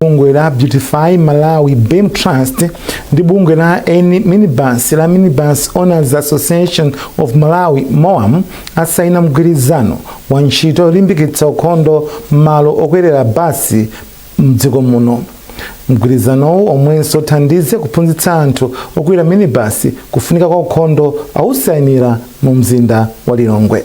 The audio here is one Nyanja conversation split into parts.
bungwe la beautify malawi beam trust ndi bungwe la N- minibus la minibus owners association of malawi moam asaina mgwirizano wa ntchito yolimbikitsa ukhondo m'malo okwerera basi mdziko muno mgwirizanowu omwenso uthandize kuphunzitsa anthu okwera minibasi kufunika kwa ukhondo awusainira mu mzinda wa lilongwe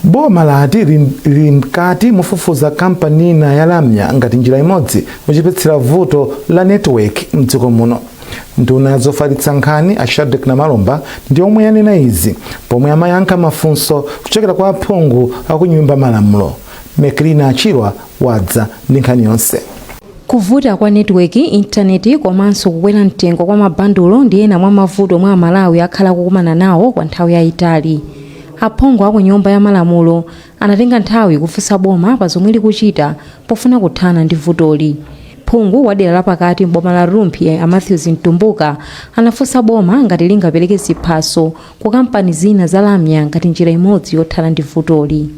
boma lati lili mkati mofufuza kampani ina ya lamya ngati njira imodzi yochepetsera vuto la network mdziko muno nduna ya zofalitsa nkhani a shadric namalomba ndi omwe yanena izi pomwe amayankha mafunso kuchokera kwa aphungu akunyumba malamulo meklina achirwa wadza ndi nkhani yonse Kuvuta kwa netiweki, intaneti, komanso kukwera mtengo kwa mabandulo ndi ena mwa mavuto omwe Amalawi akhala akukumana nawo kwa nthawi yaitali. Aphungu a ku Nyumba ya Malamulo anatenga nthawi kufunsa boma pa zomwe likuchita pofuna kuthana ndi vutoli. Phungu wa dera la pakati m'boma la Rumphi a Mathews Mtumbuka anafunsa boma ngati lingapereke ziphaso ku kampani zina za lamya ngati njira imodzi yothana ndi vutoli.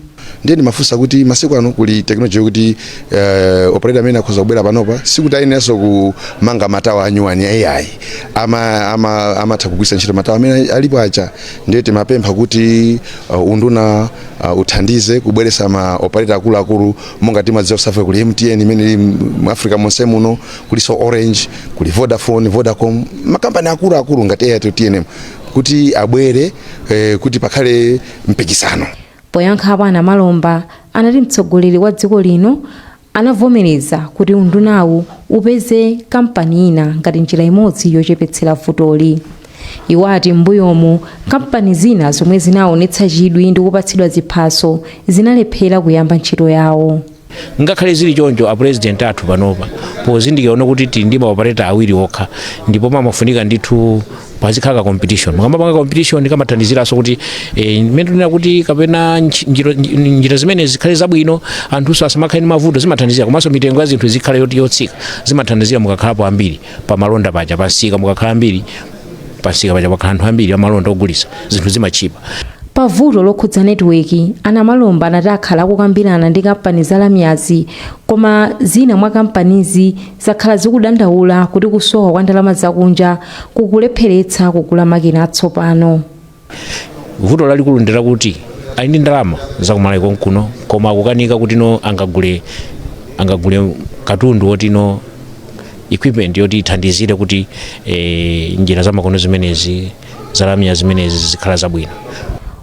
ndiye ndimafunsa kuti masiku ano kuli technology yokuti uh, operator amene akhoza kubwera panopa sikuti ayeneranso kumanga matawa anyuwani ayi amatha ama, ama kugwiritsa ntchito matawa amene alipo aja ndiye timapempha kuti uh, unduna uh, uthandize kubweretsa ma operator akuluakulu monga timadziwa kusafa kuli mtn imene ili mu africa monse muno kuliso orange kuli vodafone vodacom makampani akuluakulu ngati airtel tnm kuti abwere eh, kuti pakhale mpikisano poyankhapo a namalomba anati mtsogoleri wa dziko lino anavomereza kuti undunawu upeze kampani ina ngati njira imodzi yochepetsera vutoli iwo ati m'mbuyomu kampani zina zomwe zinaonetsa chidwi ndi kupatsidwa ziphaso zinalephera kuyamba ntchito yawo ngakhale zili choncho a president athu panopa pozindikira kuti tili ndi maopereta awiri okha ndipo pamafunika ndithu pazikhala ka competition mukamapanga competition kamathandiziranso kuti eh, mmene tinena kuti kapena nchi- njira- nji- njira zimene zikhale zabwino anthunso asamakhale ndi mavuto zimathandizira komanso mitengo ya zinthu zikhale yoti yotsika zimathandizira mukakhalapo ambiri pamalonda paja pamsika mukakhala ambiri pamsika paja pakhala anthu ambiri amalonda ogulitsa zinthu zimatchipa pa vuto lokhudza netiweki a namalomba anati akhala akukambirana ndi kampani za lamyazi koma zina mwa kampanizi zakhala zikudandaula kuti kusowa kwa ndalama zakunja kukulepheretsa kugula makina atsopano vuto lalikulu ndi lakuti ali ndi ndalama zakumaiko kuno koma akukanika kuti no angagule angagule katundu woti no equipment yoti ithandizire kuti eh, njira zamakono zimenezi zalamya zimenezi zikhala zabwino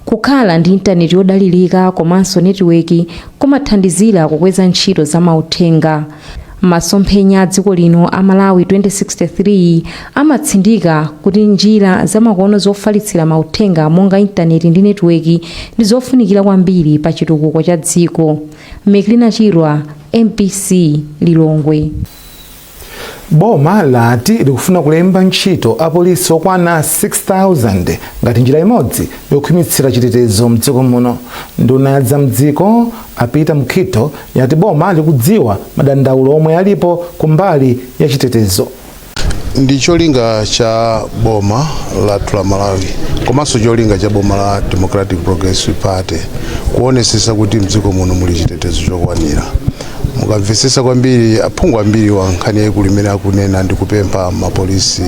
kukhala ndi intaneti yodalirika komanso netiweki kumathandizira kukweza ntchito za mauthenga Masomphenya a dziko lino a Malawi 2063 amatsindika kuti njira zamakono zofalitsira mauthenga monga intaneti ndi netiweki ndi zofunikira kwambiri pa chitukuko cha dziko. Meklina Chirwa, mbc, Lilongwe. Boma lati likufuna kulemba ntchito apolisi okwana 6,000 ngati njira imodzi yokhwimitsira chitetezo mdziko muno. Nduna ya za mdziko A Peter Mukhito yati boma likudziwa madandaulo omwe alipo kumbali ya chitetezo. ndi cholinga cha boma lathu la malawi komanso cholinga cha boma la democratic progressive party kuonesesa kuti mdziko muno muli chitetezo chokwanira mukamvetsesa kwambiri aphungu ambiri wa nkhani yayikulu imene akunena ndi kupempha mapolisi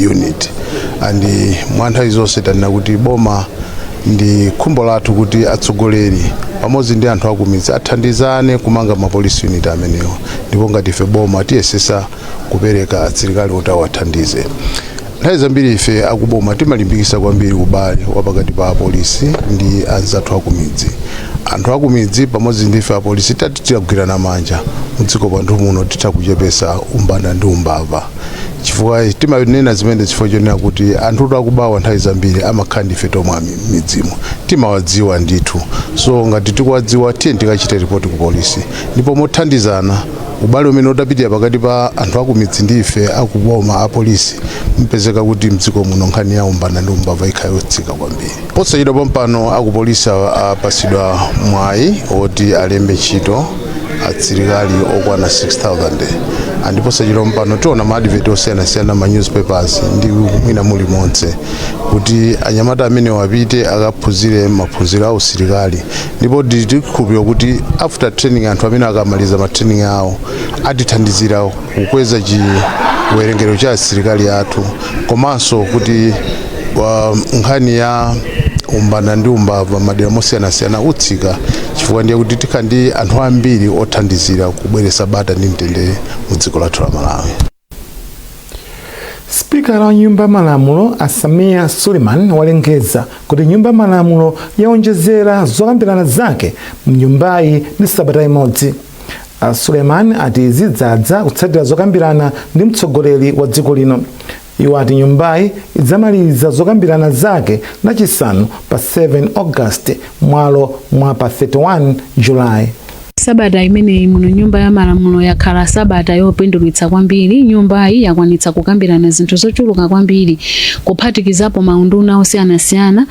unit and mwa nthawi zonse tanena kuti boma ndi khumbo lathu kuti atsogoleri pamodzi ndi anthu akumidzi athandizane kumanga mapolisi unit amenewa ndipo ngati ife boma tiyesesa kupereka asilikali oti awathandize nthawi zambiri ife akuboma timalimbikisa kwambiri ubale wapakati pa apolisi ndi anzathu akumidzi anthu akumidzi pamodzi ndi ife apolisi titagwirana manja mdziko mwathu muno titha kuchepesa umbanda ndi umbava chifukwa timanena zimene chifukwa chonena kuti anthu akubawa nthawi zambiri amakhala ndife tomwe mmidzimu timawadziwa ndithu so ngati tikuwadziwa tiyeni tikachite ripoti ku polisi ndipo mothandizana ubale umene utapitilira pakati pa anthu akumidzi ndi ife akuboma apolisi ipezeka kuti mdziko muno nkhani ya umbanda ndi umbava ikhala yotsika kwambiri Posachedwa pompano akupolisi apatsidwa mwayi woti alembe ntchito asilikali okwana 6000 and posachedwa pompano tiona ma advert osiyanasiyana ma newspapers ndi mwina mulimonse kuti anyamata amenewo apite akaphunzire maphunziro a usilikali ndipo ndi chikhulupiriro kuti after training anthu amene akamaliza ma training awo atithandizira kukweza chiwerengero cha asilikali athu komanso kuti Kwa nkhani ya umbanda ndi umbava mmadera mosiyanasiyana utsika chifukwa ndiye kuti tikha ndi anthu ambiri othandizira kubweretsa bata ndi mtendere mu dziko lathu la Malawi. Sipikala wa nyumba ya malamulo a Sameer Suleiman walengeza kuti nyumba ya malamulo yaonjezera zokambirana zake mnyumbayi ndi sabata imodzi. A Suleiman ati izi zadza kutsatira zokambirana ndi mtsogoleri wa dziko lino. Iwo ati nyumbayi idzamaliza zokambirana zake lachisanu pa 7 August mmalo mwa pa 31 July. Sabata imeneyi muno nyumba ya malamulo yakhala sabata yopindulitsa kwambiri. Nyumbayi yakwanitsa kukambirana zinthu zochuluka kwambiri kuphatikizapo maunduna osiyanasiyana.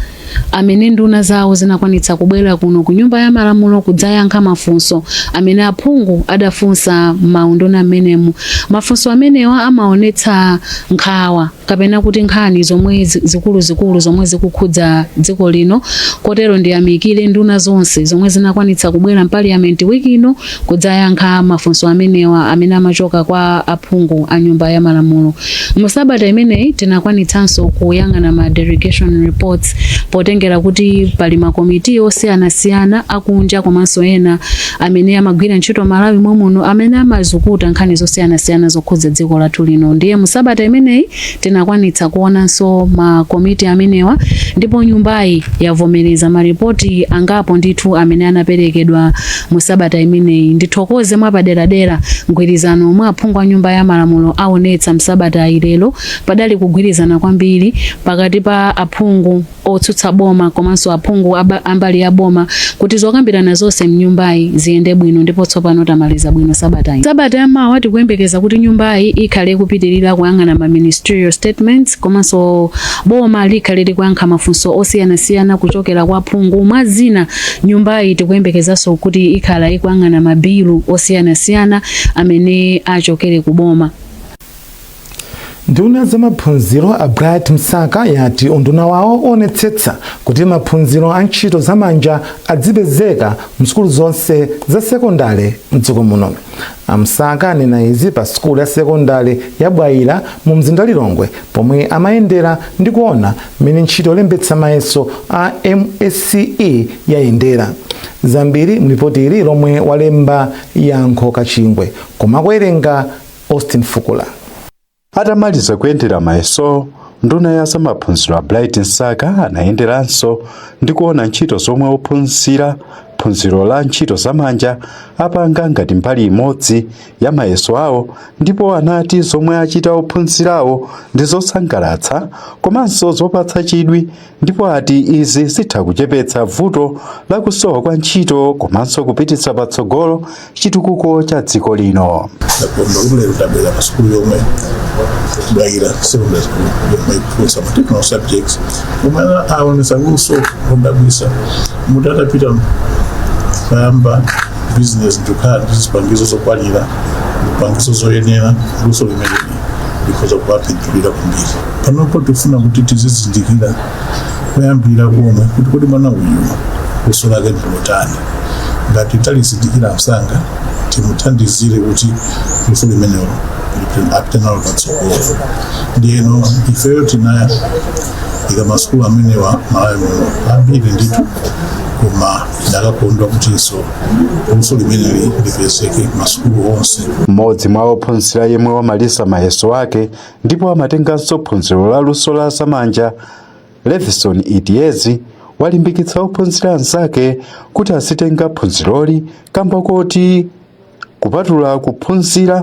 amene nduna zawo zinakwanitsa kubwera kuno ku nyumba ya malamulo kudzayankha mafunso amene aphungu adafunsa m'maunduna m'menemu mafunso amenewa amaonetsa nkhawa kapena kuti nkhani zomwe zi- zikuluzikulu zomwe zikukhudza dziko lino kotero ndiyamikire nduna zonse zomwe zinakwanitsa kubwera mpaliyamenti wiki ino kudzayankha mafunso amenewa amene amachoka kwa aphungu a nyumba ya malamulo mu sabata imeneyi tinakwanitsanso kuyang'ana ma delegation reports potengera kuti pali makomiti osiyanasiyana akunja komanso ena amene amagwira ntchito malawi momuno amene amazukuta nkhani zosiyanasiyana zokhudza dziko lathu lino ndiye mu sabata imeneyi Tinakwanitsa kuonanso makomiti amenewa ndipo nyumbayi yavomereza malipoti angapo ndithu amene anaperekedwa mu sabata imeneyi. Ndithokoze mwapaderadera mgwirizano omwe aphungu a nyumba ya malamulo awonetsa msabatayi lero padali kugwirizana kwambiri pakati pa aphungu. otsutsa boma komanso aphungu aba- ambali ya boma kuti zokambirana zonse mnyumbayi ziyende bwino ndipo tsopano tamaliza bwino sabatayi sabata yamawa tikuyembekeza kuti nyumbayi ikhale ikupitirira kuyang'ana ma ministerial statements komanso boma likhale likuyankha mafunso osiyanasiyana kuchokera kwa aphungu mwa zina nyumbayi tikuyembekezanso kuti ikhala ikuyang'ana mabilu osiyanasiyana amene achokere ku boma nduna za maphunziro a bright msaka yati unduna wawo uonetsetsa kuti maphunziro a ntchito za manja adzipezeka msukulu zonse za sekondale mdziko muno amsaka anena izi pa sukulu ya sekondale ya bwaila mu mzinda lilongwe pomwe amayendera ndi kuona mmene ntchito yolembetsa mayeso a msce yayendera zambiri mlipoti ili lomwe walemba yankho kachingwe koma akuwerenga Austin Fukula. Atamaliza kuyendera mayesowo, nduna ya zamaphunziro a Bright Msaka anayenderanso ndi kuona ntchito zomwe ophunzira phunziro la ntchito zamanja apanga ngati mbali imodzi ya mayeso awo ndipo anati zomwe achita ophunzirawo ndi zosangalatsa komanso zopatsa chidwi ndipo ati izi zitha kuchepetsa vuto la kusowa kwa ntchito komanso kupititsa patsogolo chitukuko cha dziko lino ndakubulero tabwera pa sukulu yomwe bwaila secondary school yomwe iphunzitsa ma technical subjects omwe aonesa luso lodabwitsa moti atapita kuyamba business ndikukhala ndi zipangizo zokwanira zipangizo zoyenera luso limeneli because likhoza kuwapindulira kwambiri panopo tifuna kuti tizizindikira kuyambira komwe kuti kodi mwana uyu luso lake ndilotani ngati talizindikira msanga timuthandizire kuti luso limenelo lipite- apite nalo patsogolo ndiyeno ifeyo tinaika masukulu amenewa malawi muno ambiri ndithu koma ndakakondwa kutinso luso limeneli lipezeke masukulu onse mmodzi mwa ophunzira yemwe wamaliza mayeso ake ndipo amatenganso phunziro la luso la zamanja levison idiezi walimbikitsa ophunzira anzake kuti azitenga phunziroli kamba koti kupatula kuphunzira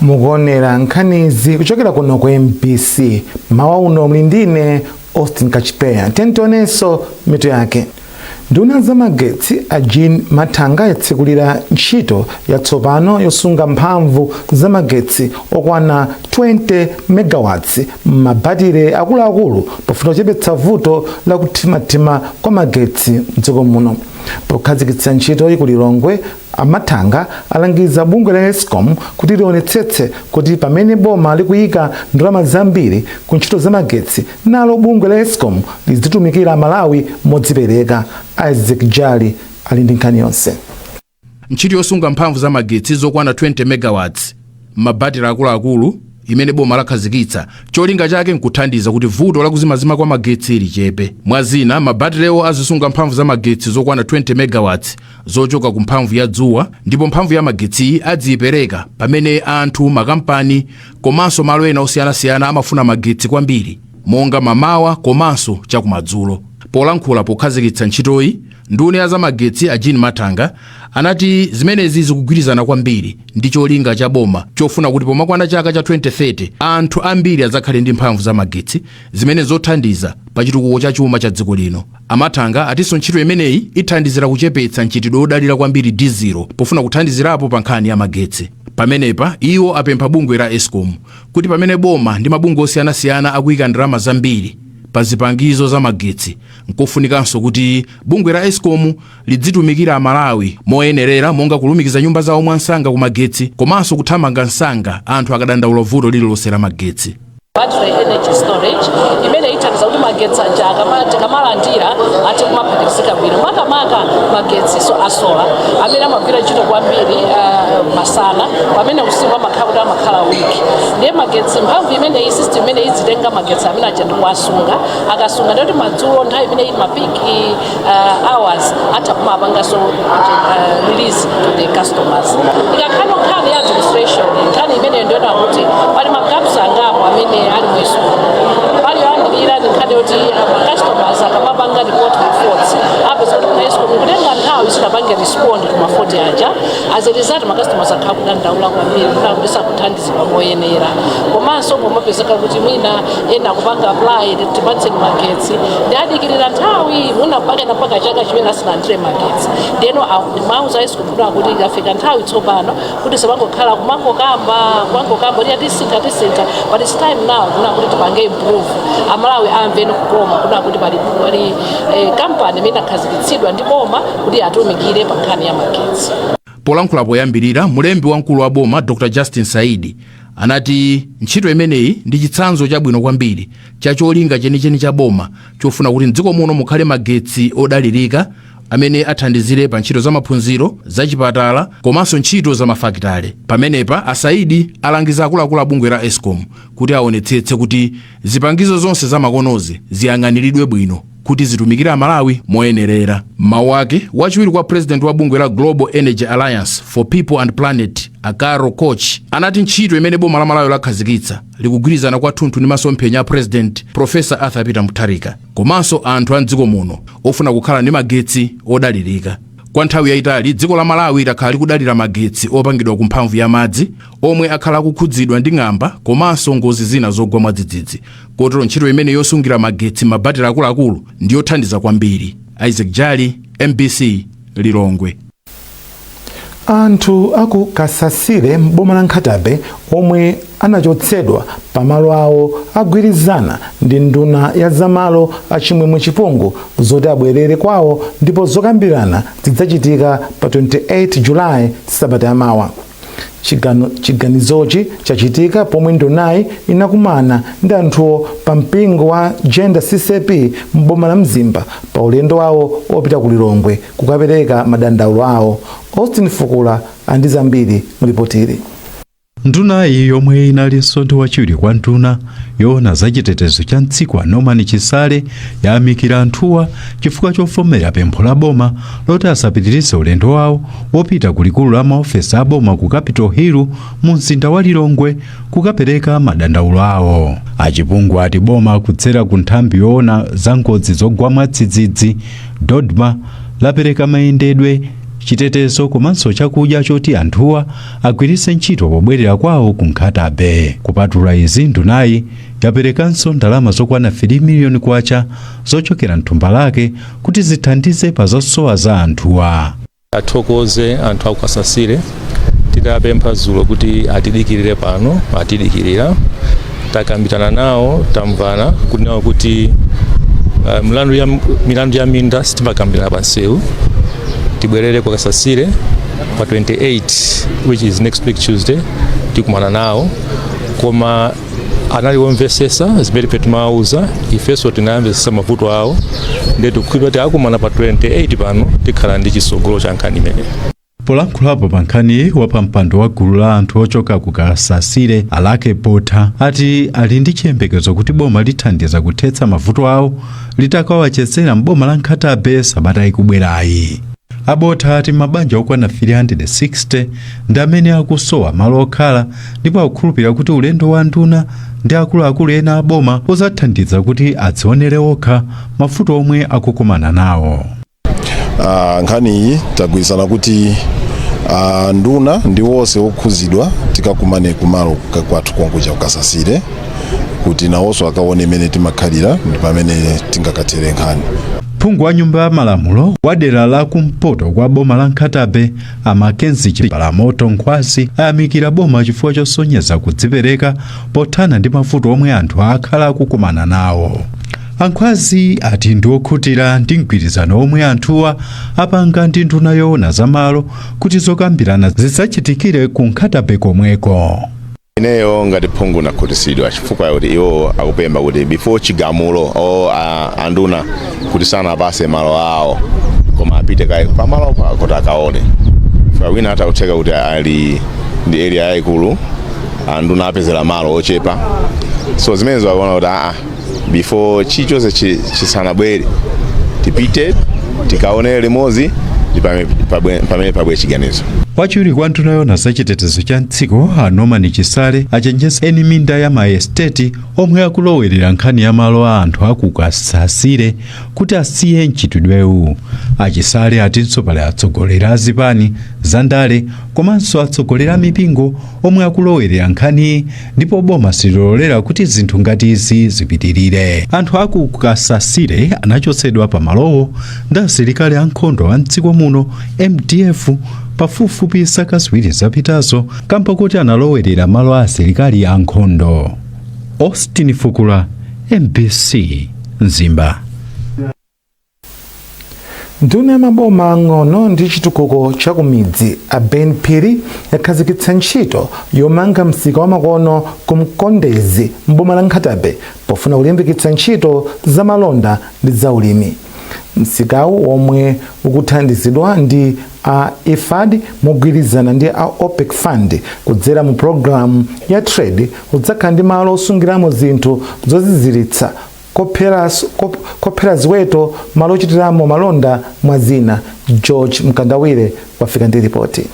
mukuonera nkhanizi kuchokera kuno ku mbc mawa uno muli ndine austin kachipeya tiyeni tionenso mitu yake nduna ya zamagetsi a jean mathanga yatsekulira ntchito yatsopano yosunga mphamvu za magetsi okwana 20 megawatts m'mabatire akuluakulu pofuna kuchepetsa vuto la kuthimathima kwa magetsi mdziko muno pokhazikitsa ntchitoyi ku lilongwe A Mathanga alangiza bungwe la Escom kuti lionetsetse kuti pamene boma likuyika ndalama zambiri ku ntchito za magetsi, nalo bungwe la Escom lidzitumikira aMalawi modzipereka. Isaac Jali ali ndi nkhani yonse. Ntchito yosunga mphamvu za magetsi zokwana 20 megawatts m'mabatire akuluakulu imene boma lakhazikitsa, cholinga chake n'kuthandiza kuti vuto la kuzimazima kwa magetsi lichepe. Mwa zina, mabatirewo azisunga mphamvu za magetsi zokwana 20 megawatts zochoka ku mphamvu ya dzuwa ndipo mphamvu ya magetsiyi aziipereka pamene anthu makampani komanso malo ena osiyanasiyana amafuna magetsi kwambiri monga mamawa komanso chakumadzulo polankhula pokhazikitsa ntchitoyi nduna ya zamagetsi a jean mathanga anati zimenezi zikugwirizana kwambiri ndi cholinga cha boma chofuna kuti pomakwana chaka cha 2030 anthu ambiri adzakhale ndi mphamvu za magetsi zimene nzothandiza pa chitukuko cha chuma cha dziko lino A Mathanga atinso ntchito imeneyi ithandizira kuchepetsa mchitidwe wodalira kwambiri dizilo pofuna kuthandizirapo pa nkhani ya magetsi. Pamenepa iwo apempha bungwe la Escom kuti pamene boma ndi mabungwe osiyanasiyana akuyika ndalama zambiri pa zipangizo za magetsi, nkofunikanso kuti bungwe la Escom lidzitumikira Amalawi moyenerera monga kulumikiza nyumba zawo mwamsanga ku magetsi komanso kuthamanga msanga anthu akadandaula vuto lililonse la magetsi. battery energy storage imene ithandiza kuti magetsi aja akama- tikamalandira athe kumaphatikizika bwino makamaka magetsi a sola amene amagwira ntchito kwambiri ah, masana pamene usiku amakhala kuti amakhala weak ndiye magetsi mphamvu imeneyi system imeneyi izitenga magetsi amene aja ndikuwasunga akasunga ndiye kuti madzulo nthawi imeneyi mapiki uh, hours atha kumapanganso uh, release to the customers ikakhala nkhani ya administration nkhani imene ndiona kuti pali magaps angapo amene ali mweso pali yoyambirira ndi nkhani yoti customers akamapanga report reports apeza kuti escom kutenga nthawi isanapange respond kuma fault aja as a result ma customers akhala kudandaula kwambiri kuti akupesa kuthandiza kuthandizidwa moyenera komanso kumapezeka kuti mwina ena kupanga apply tipatseni magetsi ndiye adikirira nthawi mwina pena mpaka chaka chimene asinalandire magetsi ndeno mwauza escom kufuta kuti ikafika nthawi tsopano kuti tisamangokhala kumangokamba kumangokamba kuti atisintha tisintha but it's time now kuna kuti tipange improve amalawi amve nikukoma kuna kuti pali pali eh, kampani imene akhazikitsidwa ndi boma kuti atumikire pa nkhani ya magetsi Polankhula poyambirira, mlembi wamkulu wa boma Dr Justin Saidi anati ntchito imeneyi ndi chitsanzo chabwino kwambiri cha cholinga chenicheni cha boma chofuna kuti mdziko muno mukhale magetsi odalirika amene athandizire pa ntchito za maphunziro, za chipatala komanso ntchito za mafakitale. Pamenepa, a Saidi alangiza akuluakulu a bungwe la escom kuti aonetsetse kuti Zipangizo zonse zamakonozi ziyang'aniridwe bwino kuti zitumikire Amalawi moyenerera. M'mawu ake, wachiwiri kwa president wa bungwe la Global Energy Alliance for People and Planet a Carol Koch anati ntchito imene boma la Malawi lakhazikitsa likugwirizana kwathunthu ndi masomphenya a president Professor Arthur Peter Mutharika komanso anthu a mdziko muno ofuna kukhala ndi magetsi odalirika. Kwa nthawi yayitali dziko la Malawi lakhala likudalira magetsi opangidwa ku mphamvu ya madzi omwe akhala akukhudzidwa ndi ng'amba komanso ngozi zina zogwa mwadzidzidzi. Kotero ntchito imene yosungira magetsi m'mabatire akuluakulu ndi yothandiza kwambiri. Isaac Jali, mbc, Lilongwe. Anthu aku Kasasile m'boma la Nkhata Bay omwe anachotsedwa pa malo awo agwirizana ndi nduna ya za malo a Chimwemwe Chipungu zoti abwerere kwawo ndipo zokambirana zidzachitika pa 28 July sabata yamawa. Chigano, chiganizochi chachitika pomwe ndunayi inakumana ndi anthuwo pa mpingo wa Jenda CCAP m'boma la Mzimba pa ulendo wawo opita ku Lilongwe kukapereka madandaulo awo. Austin Fukula ali ndi zambiri mulipotili. Ndunayi yomwe inali limodzi ndi wachiwiri kwa nduna yoona za chitetezo cha mdziko a Norman Chisale yayamikira anthuwa chifukwa chovomera pempho la boma loti asapitirize ulendo wawo wopita ku likulu la maofesi a boma ku Capital Hill mu mzinda wa Lilongwe kukapereka madandaulo awo. A Chipungu ati boma kudzera ku nthambi yoona za ngozi zogwa mwadzidzidzi DoDMA lapereka mayendedwe, chitetezo komanso chakudya choti anthuwa agwiritse ntchito pobwerera kwawo ku Nkhata Bay. Kupatula izi, ndunayi yaperekanso ndalama zokwana 3 miliyoni kwacha zochokera m'thumba lake kuti zithandize pa zosowa za anthuwa. athokoze anthu aku kasasire tidapempha dzulo kuti atidikirire pano atidikirira takambirana nawo tamvana kunena kuti uh, milandu ya minda sitimakambirana pansewu tibwerere ku kasasire pa 28 which is next week tuesday tikumana nawo koma anali omvesesa zimene ife timawauza ifenso tinawamvesesa mavuto awo ndiye tikukhulupirira kuti tikakumana pa 28 pano tikhala ndi chisogolo cha nkhani imeneyo polankhulapo pa nkhaniyi wapampando wa gulu la anthu ochoka ku kasasire alake botha ati ali ndi chiyembekezo kuti boma lithandiza kuthetsa mavuto awo litakawachezera m'boma la nkhata bay sabata ikubwerayi A Botha ati mabanja okwana 360 ndi amene akusowa malo okhala ndipo akukhulupirira kuti ulendo wa nduna ndi akuluakulu ena aboma udzathandiza kuti adzionere okha mavuto omwe akukumana nawo. Ah, nkhani iyi tagwirizana kuti ah, nduna ndi wonse wokhuzidwa tikakumane kumalo ka- kwathu konkuja kukasasire kuti nawonso akaone mmene timakhalira ndi pamene tingakathere nkhani Phungu wa nyumba ya malamulo wa dera la kumpoto kwa boma la Nkhata Bay a Mackenzie Chipalamoto Nkhwazi ayamikira boma chifukwa chosonyeza kudzipereka pothana ndi mavuto omwe anthu akhala akukumana nawo. A Nkhwazi ati ndi okhutira ndi mgwirizano womwe anthuwa apanga ndi nduna yoona za malo kuti zokambirana zidzachitikire ku Nkhata Bay komweko. ineyo ngati phungu nakhutisidwa chifukwa chakuti iwo akupempha kuti before chigamulo o anduna kuti asanawapase malo awo koma apite kaye pamalo kuti akaone chifukwa wina atha kutheka kuti ali ndi area yayikulu anduna apezera malo ochepa so zimenezo akuona kuti aa before chilichonse chi- chisanabwere tipite tikaonere limodzi ndi pame- pabwe- pamene pabwe chiganizo wachiwiri kwa nduna yoona za chitetezo cha mdziko a norman chisale achenjeza eni minda ya maesteti omwe akulowerera nkhani ya malo a anthu akukasasire kuti asiye mchitidwewu a chisale atinso pali atsogoleri a zipani za ndale komanso atsogoleri a mipingo omwe akulowerera nkhaniyi ndipo boma sililolera kuti zinthu ngati izi zipitirire anthu aku kasasire anachotsedwa pa malowo ndi asilikali ankhondo a mdziko muno mdf pafupifupi zaka ziwiri zapitazo kamba kuti analowerera malo a asilikali ankhondo austin fukula mbc mzimba nduna ya maboma ang'ono ndi chitukuko cha kumidzi a ben phiri yakhazikitsa ntchito yomanga msika wamakono ku mkondezi mboma la nkhatabe pofuna kulimbikitsa ntchito za malonda ndi za ulimi msikawu womwe ukuthandizidwa ndi a ifad mogwirizana ndi a opec fund kudzera mu pulogalamu ya trade udzakhala ndi malo osungiramo zinthu zoziziritsa kophera ziweto malo ochitiramo malonda mwa zina george mkandawire wafika ndi ripoti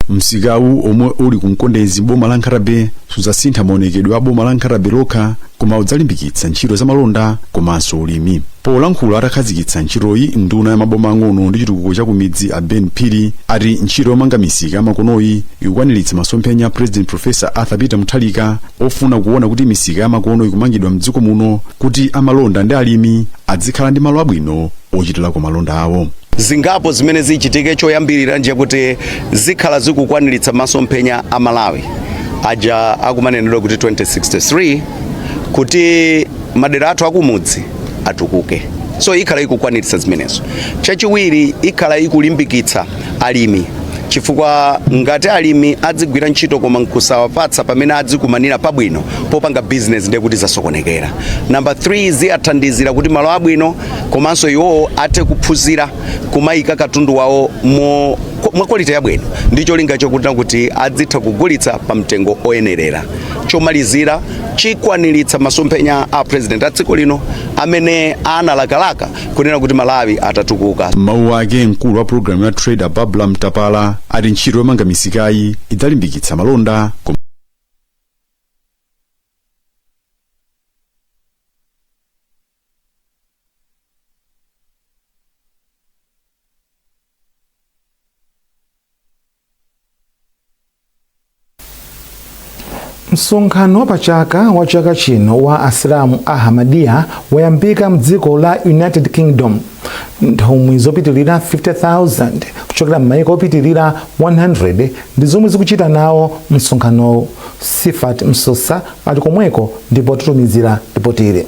msikawu omwe uli ku mkondezi boma la nkhata bay sudzasintha maonekedwe a boma la nkhata bay lokha koma udzalimbikitsa ntchito za malonda komanso ulimi polankhula atakhazikitsa ntchitoyi nduna ya maboma ang'ono ndi chitukuko cha kumidzi a ben phiri ati ntchito yomanga misika yamakonoyi ikukwaniritsa masomphenya a president professor arthur peter mutharika ofuna kuona kuti misika yamakono ikumangidwa mdziko muno kuti amalonda ndi alimi adzikhala ndi malo abwino ochitirako malonda awo zingapo zimene zichitike choyambirira ndi chakuti zikhala zikukwaniritsa masomphenya a malawi aja akumanenedwa kuti 2063 kuti madera athu akumudzi atukuke so ikhala ikukwaniritsa zimenezo chachiwiri ikhala ikulimbikitsa alimi chifukwa ngati alimi adzigwira ntchito koma nkusawapatsa pamene adzikumanira pabwino popanga business ndiye kuti zasokonekera. Number 3 ziyathandizira kuti malo abwino komanso iwowo athe kuphunzira kumayika katundu wawo mwa quality yabwino ndi cholinga chokuti kuti adzitha kugulitsa pa mtengo oyenerera. Chomalizira chikwaniritsa masomphenya a president a dziko lino amene analakalaka kunena kuti malawi atatukuka m'mawu ake mkulu wa pulogalamu ya trade babla mtapala ati ntchito yomanga misikayi idzalimbikitsa malonda kom- msonkhano wapachaka wa chaka chino wa asilamu a ahmadiyya wayambika mdziko la united kingdom nthumwi zopitilira 50000 kuchokera m'mayiko opitilira 100 ndi zomwe zikuchita nawo msonkhanowu sifat msosa ali komweko ndipo watitumizira lipotili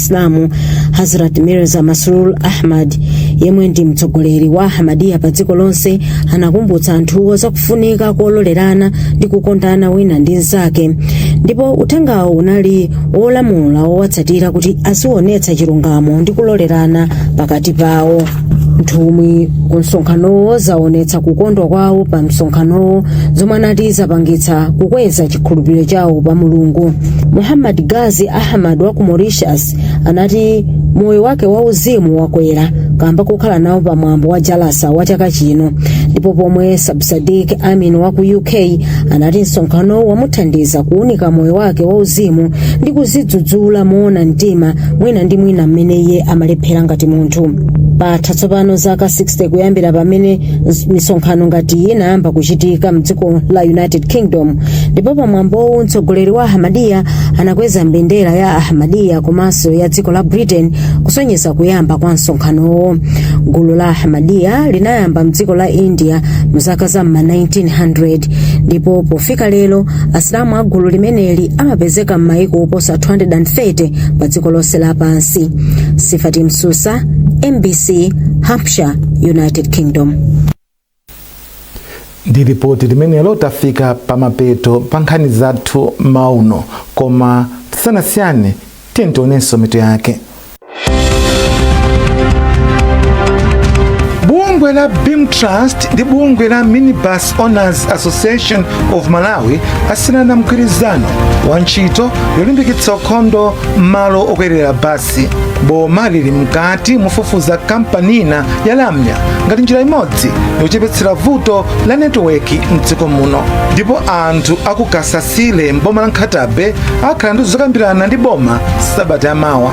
chisilamu hazrat mirza masroor ahmad yemwe ndi mtsogoleri wa ahmadiyya pa dziko lonse anakumbutsa anthuwo zakufunika kololerana ndi kukondana wina ndi mnzake ndipo uthengawo unali wolamula owatsatira kuti azionetsa chilungamo ndi kulolerana pakati pawo nthumwi ku msonkhanowo zaonetsa kukondwa kwawo pa msonkhanowo zomwe anati zapangitsa kukweza chikhulupiriro chawo pa mulungu muhammad gazi ahmad wa ku mauritius anati moyo wake wauzimu wakwera kamba kokhala nawo pa mwambo wa jalsa wa chaka chino ndipo pomwe sabsadik amin wa ku uk anati msonkhanowo wamuthandiza kuunika moyo wake wauzimu ndi kuzidzudzula moona mtima mwina ndi mwina mmene iye amalephera ngati munthu patha tsopano zaka 60 kuyambira pamene misonkhano ngati iyi inayamba kuchitika mdziko la united kingdom ndipo pamwambowu mtsogoleri wa ahmadiyya anakweza mbendera ya ahmadiyya komanso ya dziko la britain kusonyeza kuyamba kwa msonkhanowo gulu la ahmadiyya linayamba mdziko la india mzaka za m'ma 1900 ndipo pofika lero asilamu a gulu limeneli amapezeka m'mayiko oposa 230 pa dziko lonse lapansi sifati msusa mbc hampshire united kingdom ndi ripoti limenelo tafika pamapeto pa nkhani zathu mmawa uno koma tisanasiyane Tiyeni tionenso mitu yake. Bungwe la Beam Trust ndi bungwe la Minibus Owners Association of Malawi asainirana mgwirizano wa ntchito yolimbikitsa ukhondo m'malo okwerera basi. Boma lili mkati mofufuza kampani ina ya lamya ngati njira imodzi yochepetsera vuto la netiweki mdziko muno ndipo anthu akukasasa tsile m'boma la nkhata bay akhala ndi zokambirana ndi boma sabata yamawa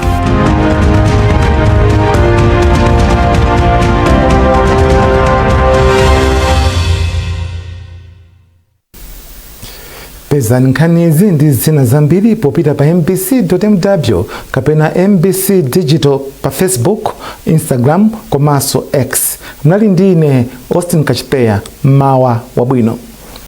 pezani nkhanizi ndi zina zambiri popita pa mbc.mw kapena mbc digital pa facebook instagram komanso x mnali ndi ine austin kachiteya mmawa wabwino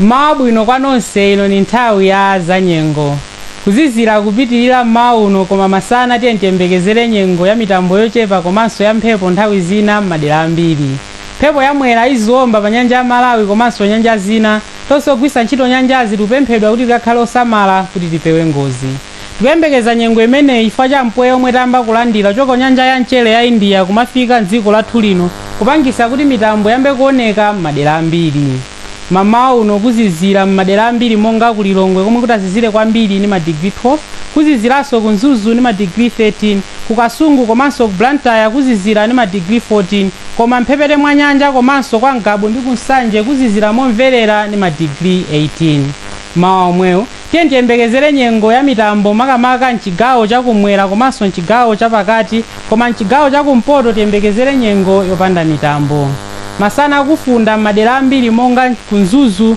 Mmawa abwino kwa nonse, ino ni nthawi ya zanyengo. Kuzizila kupitilila mmawa uno koma masana tiyeni tiyembekezele nyengo ya mitambo yocepa komanso ya mphepo nthawi zina mmadela ambili. Mphepo ya Mwera iziomba pa nyanja ya Malawi komanso nyanja zina. Tonse ogwilsa nchito nyanjazi tikupemphedwa kuti tikakhale osamala kuti tipewe ngozi. Tikuyembekeza nyengo imeneyi chifukwa cha mpweya omwe tayamba kulandira kuchoka ku nyanja ya mchere ya India kumafika m'dziko lathu lino kupangisa kuti mitambo iyambe kuoneka m'madera ambiri. Mamawa uno kuzizira m'madera ambiri monga ku Lilongwe komwe kutazizire kwambiri ndi ma degree 12, kuziziranso ku Mzuzu ndi ma degree 13, ku Kasungu komanso ku Blantyre kuzizira ndi ma degree 14 koma m'mphepete mwa nyanja komanso kwa Ngabu ndi ku Nsanje kuzizira momverera ndi ma degree 18. Mmawa omwewu. Tiyeni tiyembekezere nyengo ya mitambo makamaka m'chigawo cha kum'mwera komanso m'chigawo cha pakati koma m'chigawo cha kumpoto tiyembekezere nyengo yopanda mitambo. Masana kufunda m'madera ambiri monga ku Mzuzu,